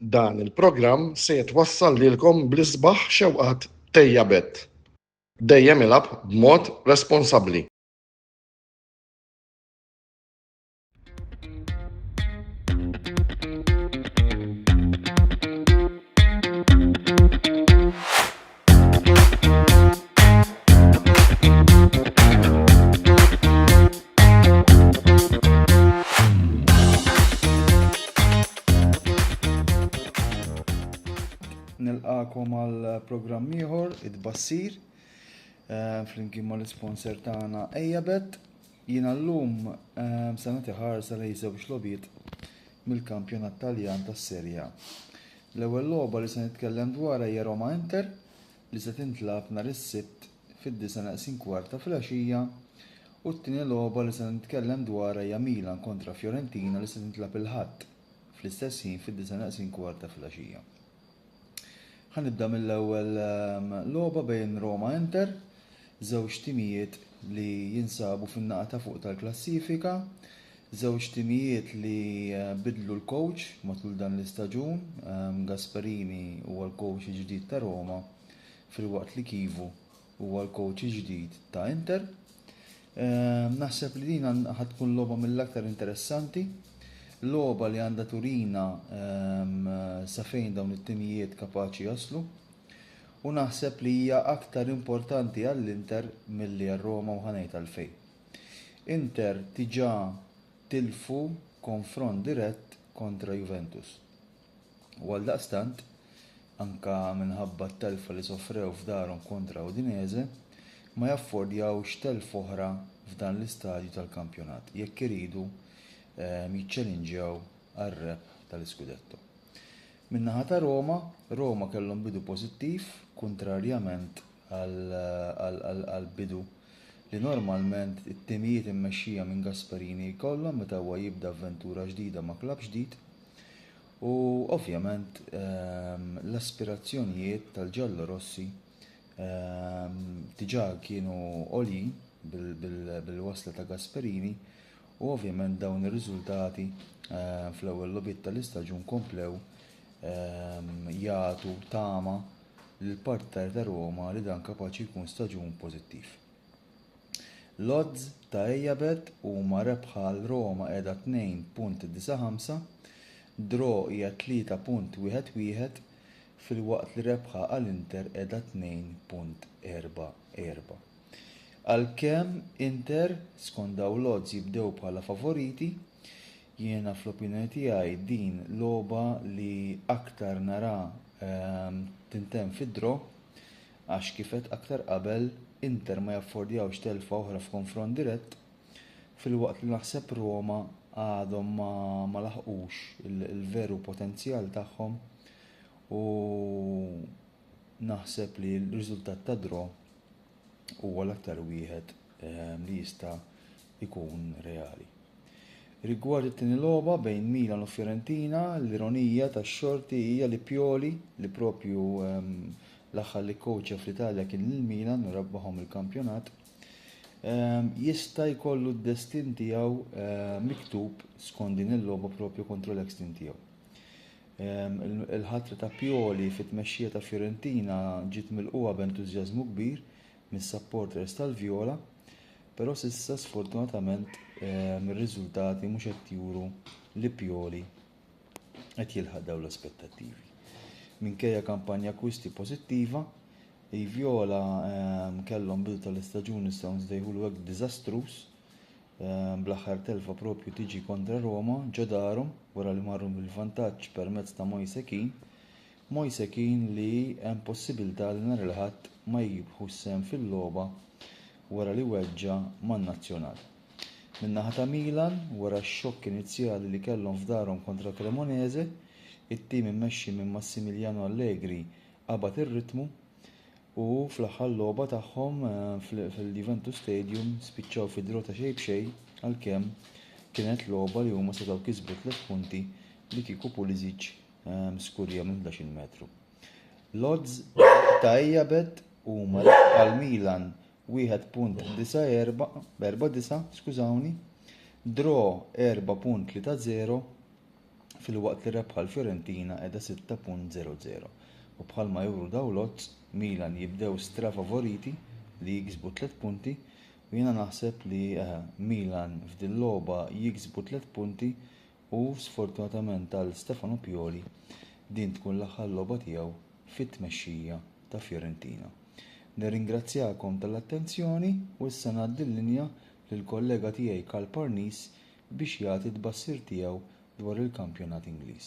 Dan il-programm se jitwassal lilkom bl-isbaħ xewqat Tejja Bett. Dejjem ilgħab b'mod responsabbli. nilqakom għal programm ieħor id-bassir eh, flimkien mal isponsor tagħna Ejabet. Jiena llum eh, se nagħti ħarsa lejn żewġ lobiet mill-kampjonat Taljan tas-Serja. L-ewwel logħba li se nitkellem dwarha hija Roma Inter li se tintlagħab nhar is-Sibt fid-disgħa naqsin kwart ta' filgħaxija u t-tieni logħba li se nitkellem dwarha hija Milan kontra Fiorentina li se tintlagħab il-Ħadd fl-istess ħin fid-disgħa naqsin kwart ta' filgħaxija. Ħa nibda mill-ewwel ehm, logħba bejn Roma Inter, żewġ timijiet li jinsabu fin-naqa ta' fuq tal-klassifika, Żewġ timijiet li bidlu l-kowċ matul dan l-istaġun, Gasperini huwa l-kowċ il-ġdid ta' Roma filwaqt li Chivu huwa l-kowċ il-ġdid ta' Inter. Naħseb li din ħa tkun logħba mill-aktar interessanti, logħba li għandha turina sa fejn dawn it-timijiet kapaċi jaslu u naħseb li hija aktar importanti għall-Inter milli għar-Roma u ħa ngħid għalfejn. Inter diġà tilfu konfront dirett kontra Juventus u għaldaqstant, anke minħabba t-telfa li sofrew f'darhom kontra Udinese, ma jaffordjawx telfa oħra f'dan l-istadju tal-kampjonat jekk iridu jiċċelinġjaw għar-rebħ tal-iskudetto. Min-naħa ta' Roma, Roma kellhom bidu pożittiv kuntrarjament għall-bidu li normalment it-timijiet immexxija minn Gasperini jkollhom meta huwa jibda avventura ġdida ma' klabb ġdid u ovvjament l-aspirazzjonijiet tal-ġallorossi diġà kienu għoljin bil-wasla ta' Gasperini u ovvjament dawn ir-riżultati fl-ewwel logħbiet tal-istaġun komplew jagħtu tama lill-partitari ta' Roma li dan kapaċi jkun staġun pożittiv. L-odds ta' Ejabet huma rebħa għal Roma qiegħda 2.95, draw hija 3.11 filwaqt li rebħa għal Inter qiegħda 2.44. Għalkemm Inter, skont dawn l-odds jibdew bħala favoriti, jiena fl-opinjoni tiegħi din logħba li aktar narha tintemm fid-draw għax kif għedt aktar qabel Inter ma jaffordjawx telfa oħra f'konfront dirett filwaqt li naħseb Roma għadhom ma laħqux il-veru potenzjal tagħhom u Naħseb li r-riżultat ta' draw huwa l-aktar wieħed ehm, li jista' jkun reali. Rigward it-tieni logħba bejn Milan u Fiorentina, l-ironija tax-xorti hija li Pioli li propju ehm, l-aħħar li kowċa fl-Italja kien lil Milan u rebbaħhom il-kampjonat, ehm, jista' jkollu d-destin tiegħu miktub skont din il-logħba propju kontra l-ex-tim tiegħu. Il-ħatra ta' Pioli fit-tmexxija ta' Fiorentina ġiet milqugħa b'entużjażmu kbir mis-supporters tal-Vjola, però s'issa sfortunatament ir-riżultati mhux qed juru li Pioli qed jilħaq dawn l-aspettattivi. Minkejja kampanja akkwisti pożittiva, il-Vjola kellhom bidu tal-istaġun nistgħu nsejħulu hekk diżastruż bl-aħħar telfa proprju tiġi kontra Roma ġo darhom wara li marru bil-vantaġġ permezz ta' Moise Kean. Moise Kean li hemm possibilità li nhar il-Ħadd ma jibħu s-sehem fil-logħba wara li weġġa' man-Nazzjonal. Min-naħa ta' Milan, wara x-xokk inizjali li kellhom f'darhom kontra Cremonese, it-tim immexxi minn Massimiliano Allegri qabad ir-ritmu u fl-aħħar logħba tagħhom fil-Juventus Stadium spiċċaw fi draw ta' xejn b'xejn għalkemm kienet logħba li huma setgħu kisbu tliet punti li kieku Pulisic skurja minn 11-il metru. L-odds ta' Ejabet huma għal Milan 1.49, skużawni, draw 4.30 filwaqt li rebħa l-Fiorentina qiegħda 6.00 u bħalma juru dawn l-odds Milan jibdew strafavoriti li jiksbu tliet punti u jiena naħseb li eh, Milan f'din logħba jiksbu tliet punti U sfortunatament għal Stefano Pioli din tkun l-aħħar logħba tiegħu fit-tmexxija ta' Fiorentina. Nirringrazzjakom tal-attenzjoni u issa ngħaddi l-linja lill-kollega tiegħi Karl Parnis biex jagħti t-tbassir tiegħu dwar il-kampjonat Ingliż.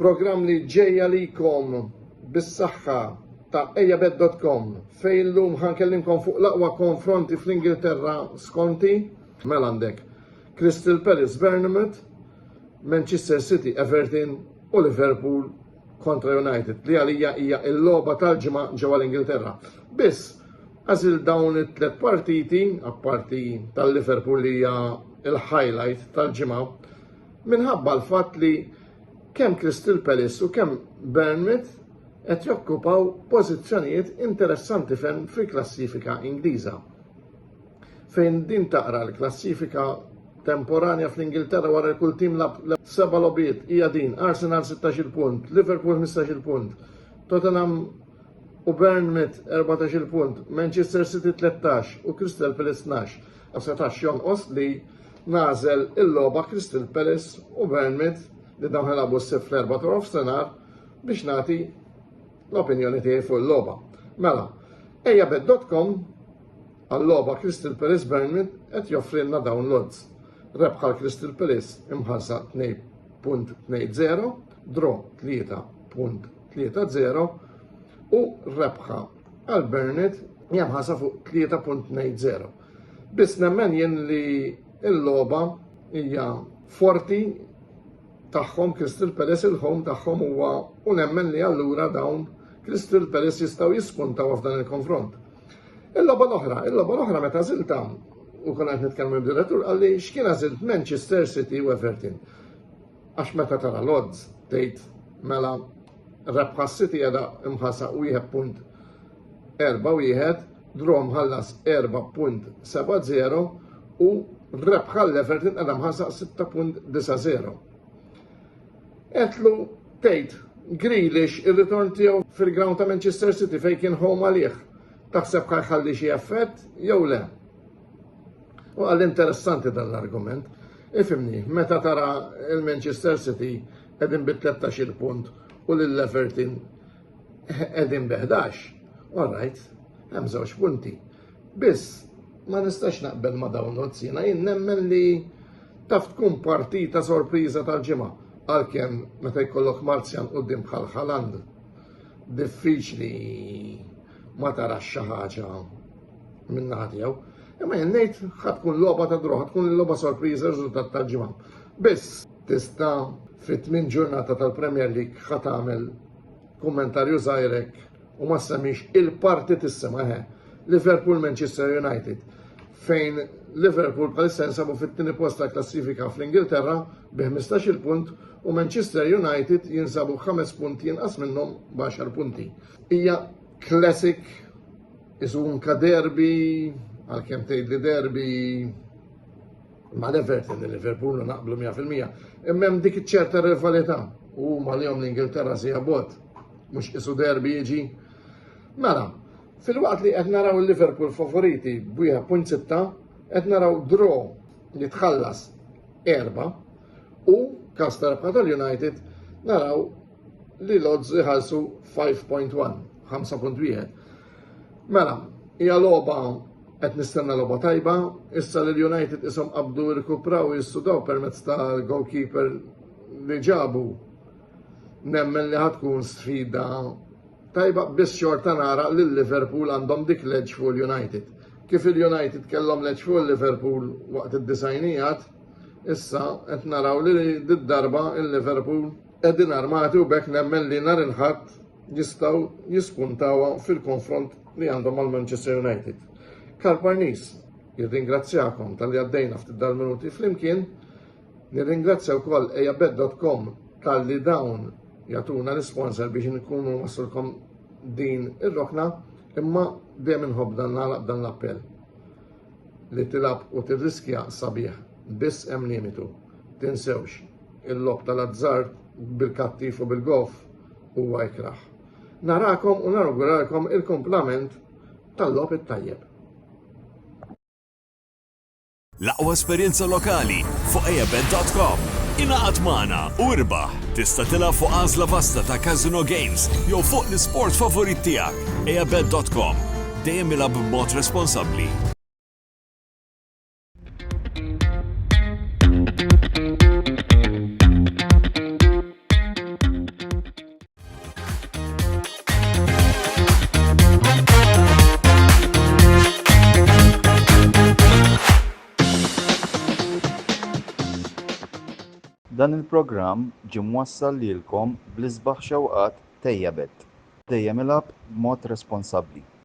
Programm li ġej għalikom bis-saħħa ta' ejabed.com fejn illum ħankellimkom fuq l-aqwa konfronti fl-Ingilterra skonti mela għandek Crystal Palace Bournemouth, Manchester City Everton u Liverpool kontra United li għalija hija l-logħba tal-ġimgħa ġewwa l-Ingilterra. Biss għażil dawn it-tlet partiti, apparti tal-Liverpool li hija l-highlight tal-ġimgħa, minħabba l-fatt li kemm Crystal Palace u kemm Bournemouth qed jokkupaw pożizzjonijiet interessanti ferm fil-klassifika Ingliża. Fejn din taqra l-klassifika temporanja fl-Ingilterra wara kull tim lab seba' lobiet hija din Arsenal 16 punt, Liverpool 15 punt, Tottenham u Bournemouth 14 punt, Manchester City 13 u Crystal Palace 12. Ma setax jonqos li nażel il-logħba Crystal Palace u Burnmouth li dawn ħelabu s-sib fl-erba' ta' nofsinhar biex nagħti l-opinjoni tiegħi fuq il-logħba. Mela, ejja bed.com għall-logħba Crystal Palace Burnmouth qed joffrilna dawn l-odds. Rebħa l-Crystal Palace imħarsa 2.20, draw 3.30 u rebħa Għal Burnett hija mħassa fuq 3.20. Biss nemmen jien li l-logħba hija forti tagħhom Crystal Palace il-home tagħhom huwa u nemmen li allura dawn Crystal Palace jistgħu jispuntaw f'dan il-konfront. Il-logħba l-oħra, il-logħba l-oħra meta żilta u konna qed nitkellmu b'direttur qalli x'kien għażilt Manchester City u Everton. Għax meta tara l-odds tgħid mela Rebħa City għada imħasa 1.41, draw mħallas 4.70 u rebħa l-Everton għada imħasa 6.90. Etlu tgħid Grealish ir-ritorn tiegħu fil-ground ta' Manchester City fejn kien home għalih. Taħseb kar ħalli xi effett jew le? U għal interessanti dan l-argument. Ifimni, meta tara il-Manchester City qegħdin bi 13 punt u lil Everton qegħdin bi 11. All right, hemm żewġ punti. Biss ma nistax naqbel ma dawn nozz jiena jien nemmen li taf tkun partita sorpriża tal-ġimgħa għalkemm meta jkollok Marzjan qudiem bħal Haland diffiċli ma tarax xi ħaġa minn naħa tiegħu. Imma jien ngħid ħad tkun logħba ta' droħ, tkun logħba sorpriża riżultat tal-ġimgħa. Biss Tista' fi tmien ġurnata tal-Premier League ħa tagħmel kummentarju żgħirek u ma semmix il-parti tissimha ħe. Liverpool Manchester United fejn Liverpool bħalissa jinsabu fit-tieni post ta' klassifika fl-Ingilterra bi 15-il punt u Manchester United jinsabu 5 punti jinqas minnhom b'10 punti. Hija classic isu unka derby għalkemm tgħidli derby Ma l-Everton li Liverpool naqblu 100%, imma hemm dik iċ-ċerta rivalità u huma li jom l-Ingilterra si jabot, mhux isu derbi jiġi. Mela, fil-waqt li qed naraw il-Liverpool favoriti b'1.6 qed naraw draw li tħallas erba u kas tarabħa tal-United naraw li l-odds iħallsu 5.1, 5.1. Mela, hija logħba qed nistenna logħba tajba, issa li l-United ishom qabdu rikupraw jissudaw permezz tal-goalkeeper li ġabu. Nemmen li ħatkun sfida tajba biss xorta nara li Liverpool għandhom dik leġ fuq l-United. Kif il-United kellhom leġ fuq Liverpool waqt id-disajnijat, issa qed naraw li d-darba il-Liverpool Qegħdin armati u bekk nemmen li nhar il-Ħadd jistgħu jispuntawha fil-konfront li għandhom mal Manchester United. Karl Parnis, jirringrazzjakom tal-li għaddejna ftit dal-minuti flimkien, nirringrazzja wkoll ejabed.com tal-li dawn jatuna l-sponsor biex nkunu wasulkom din ir-rokna imma dejjem inħobb dan l-appell. Li tilgħab u tirriskja sabiħ, biss hemm limitu. Tinsewx, il-logħob tal-azzard bil-kattif u bil-goff huwa ikrah. Narakom u nawguralkom il-kumplament tal-logħob it-tajjeb. L-aqwa esperjenza lokali fuq eabet.com. Ingħaqad magħna u irbaħ. Tista' tilgħab fuq għażla vasta ta' casino games jew fuq l-isport favorit tiegħek. eabet.com Dejjem ilgħab b'mod responsabbli. Dan il-programm ġie mwassal lilkom bl-isbaħ xewqat Tejjabet. Dejjem ilgħab b'mod responsabbli.